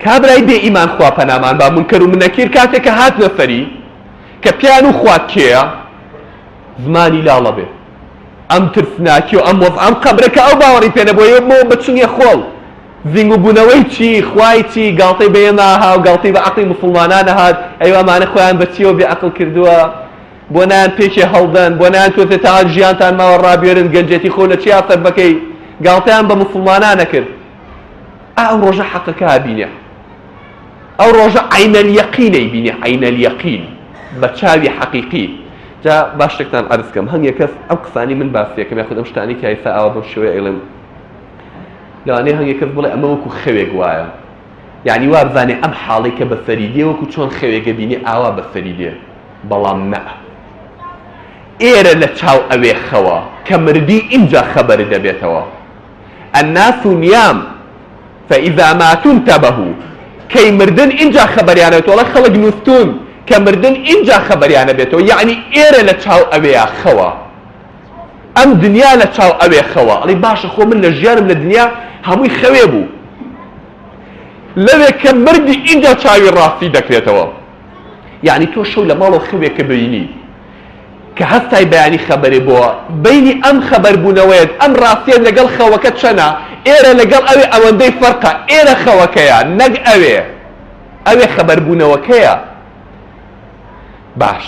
کابرای بێ ئیمان خوا پەنامان با منکەر و منەکیر کاتێک کە هاتنە سەری کە پیان و خوات کێیە زمانی لاڵە بێ ئەم ترسناکی و ئەم وەز ئەم قەبرە کە ئەو باوەڕی پێ نەبووە یۆ بۆ بەچنگە خۆڵ زینگ و بوونەوەی چی خوای چی گاڵتەی بە ئێمە ها و گاڵتەی بە عەقڵی موسڵمانان هات ئەی ئەمانە خۆیان بە چیەوە بێ عەقڵ کردووە بۆ نایەن پێکێ هەڵدەن بۆ نایەن تۆزێ تاوان ژیانتان ماوە ڕابوێرن گەنجێتی خۆ لە چیا سەر بەکەی گاڵتەیان بە موسڵمانانە کرد ئا ئەو ڕۆژە حەقەکە بینێ ئەو ڕۆژە عینەلیەقینەی بینێ عینەلیەقین بە چاوی حەقیقی جا باشێکتان ئەرزکەم هەم یەکەس ئەم قسانی من باسیەکەم یاخود ئەم شتانی کە ئێستا ئاوا بەم شێوەیە ئەڵێم لەوانەیە هەم یەکەس بڵێ ئەمە وەکو خەوێک وایە یعنی وابزانێ ئەم حاڵێکە بەسەری دێ وەکو چۆن خەوێکە بینێ ئاوا بەسەری دێ بەڵام نەء ئێرە لە چاو ئەوێ خەوە کە مردی ئینجا خەبەر دەبێتەوە الناس نیام فاذا ماتو انتبهو کەی مردن ئینجا خەبەریان ئەبێتەوە ئەڵێ خەڵک نوستون کە مردن ئینجا خەبەریان ئەبێتەوە یەعنی ئێرە لە چاو ئەوێیا خەوە ئەم دنیا لە چاو ئەوێ خەوە ئەڵی باشە خۆ من لە ژیانم لە دنیا هەمووی خەوێ بوو لەوێ کە مردی ئینجا چاوی ڕاستی دەکرێتەوە. یانی تۆ شەو لەماڵەوە خەوێ کە بینی کە هەستای بەیانی خەبەرێ بۆ بینی ئەم خەبەر بونەوەیەت ئەم ڕاستیەت لەگەڵ خەوەکە چەنە ئێرە لەگەڵ ئەوێ ئەوەندەی فەرقە ئێرە خەوەکەیە نەک ئەوێ ئەوێ خەبەر بونەوەکەیە باش.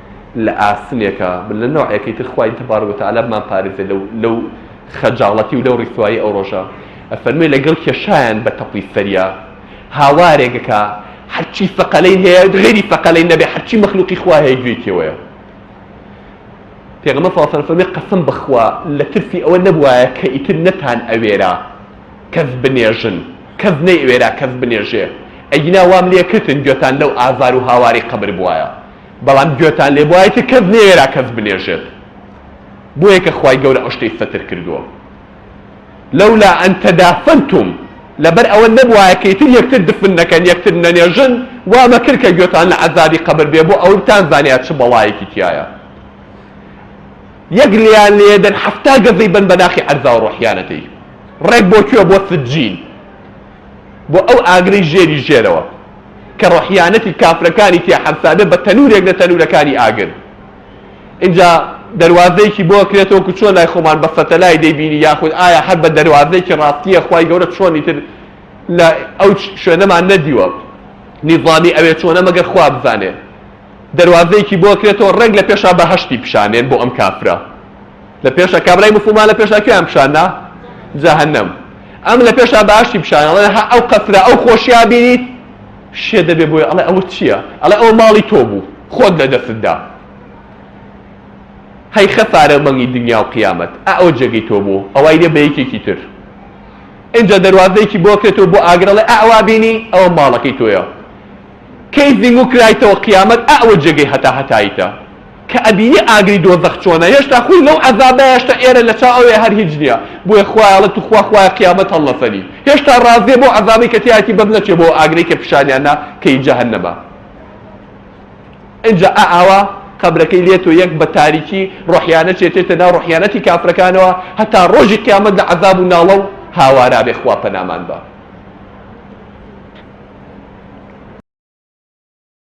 لە ئاسنێکە لە نەوعێکی تر خوای تبارک و تعالی بمان پارێزێ لەو لەو خەجاڵەتی و لەو ڕیسوایی ئەو ڕۆژە ئەفەرموێ لەگەڵ کێشایان بە تەپڵی سەریا هاوارێک کە هەرچی سەقەلەی هەیە غێری سەقەلەی نەبێ هەرچی مەخلوقی خوا هەیە گوێی تێوەیە پێغەمە ساسەر فەرمی قەسم بخوا لە ترسی ئەوە نەبوایە کە ئیتر نەتان ئەوێرا کەس بنێژن کەس نەی ئەوێرا کەس بنێژێ ئەگینا وام لێ کردن گوێتان لەو ئازار و هاواری قەبر بوایە بەڵام گوێتان لێ بوایە کە کەس نەیوێرا کەس بنێژێت بۆیە کە خوای گەورە ئەو شتەی سەتر کردووە لولا ان تدافنتم لەبەر ئەوە نەبوایە کە ئیتر یەکتر دفن نەکەن یەکتر نەنێژن وا مەکرد کە گوێتان لە عەزابی قەبر بێ بۆ ئەوە بتانزانێ چ بەڵایەکی تیایە یەک لێیان لێدەن حەفتا گەزەی بەن بە ناخی عەرزاوە ڕۆحیانەتەی ڕێک بۆ کوێ بۆ سجین بۆ ئەو ئاگرەی ژێری ژێرەوە کە ڕەحیانەتی کافرەکانی تیا حەرسابێ بە تەنوورێک لە تەنوورەکانی ئاگر ئینجا دەروازەیەکی بۆ ئەکرێت وەکو چۆن لای خۆمان بە سەتەلای دەیبینی یاخود ئایا هەر بە دەروازەیەکی ڕاستییە خوای گەورە چۆنی تر لە ئەو شوێنەمان نەدیوە نیزامی ئەوێ چۆنە مەگەر خوا بزانێ دەروازەیەکی بۆ ئەکرێتەوە ڕێک لە پێشا بەهەشتی پیشانێن بۆ ئەم کافرە لە پێشا کابرای موسڵمان لە پێشا کوێیان پیشاندا جەهەنەم ئەم لە پێشا باشی پیشان ئەڵێ ها ئەو قەسرە ئەو خۆشیا بینیت شێ دەبێ بۆی ئەڵێ ئەوە چییە ئەڵێ ئەوە ماڵی تۆ بوو خۆت لە دەستتدا هەی خەسارە مەنگی دنیا و قیامەت ئەو جێگەی تۆ بوو ئەوای لێ بە یەکێکی تر اینجا دەروازەیەکی بۆ کرێتەوە بۆ ئاگرەڵێ ئەوا بینی ئەوە ماڵەکەی تۆیە کەی زیمو کرایتەوە قیامەت ئەوە جێگەی هەتا هەتاییتە کە ئەبینی ئاگری دۆزەخ چۆنە هێشتا خۆی لەو عەزابە هێشتا ئێرە لە چاو ئەوێ هەر هیچ نیە بۆیە خوایە ئەڵێ توخوا خوایە قیامەت هەڵنەسەنی هێشتا ڕازیە بەو عەزابەی کە تیایەتی بەس نەچێ بۆ ئەو ئاگرەی کە پیشانیان نا کە هی جەهەنەمە ئینجا ئا ئاوا قەبرەکەی لێ تۆ یەک بە تاریکی ڕۆحیانە چێتێتە ناو ڕۆحیانەتی کافرەکانەوە هەتا ڕۆژی قیامەت لە عەزاب و ناڵە و هاوارا بێ خوا پەنامان با.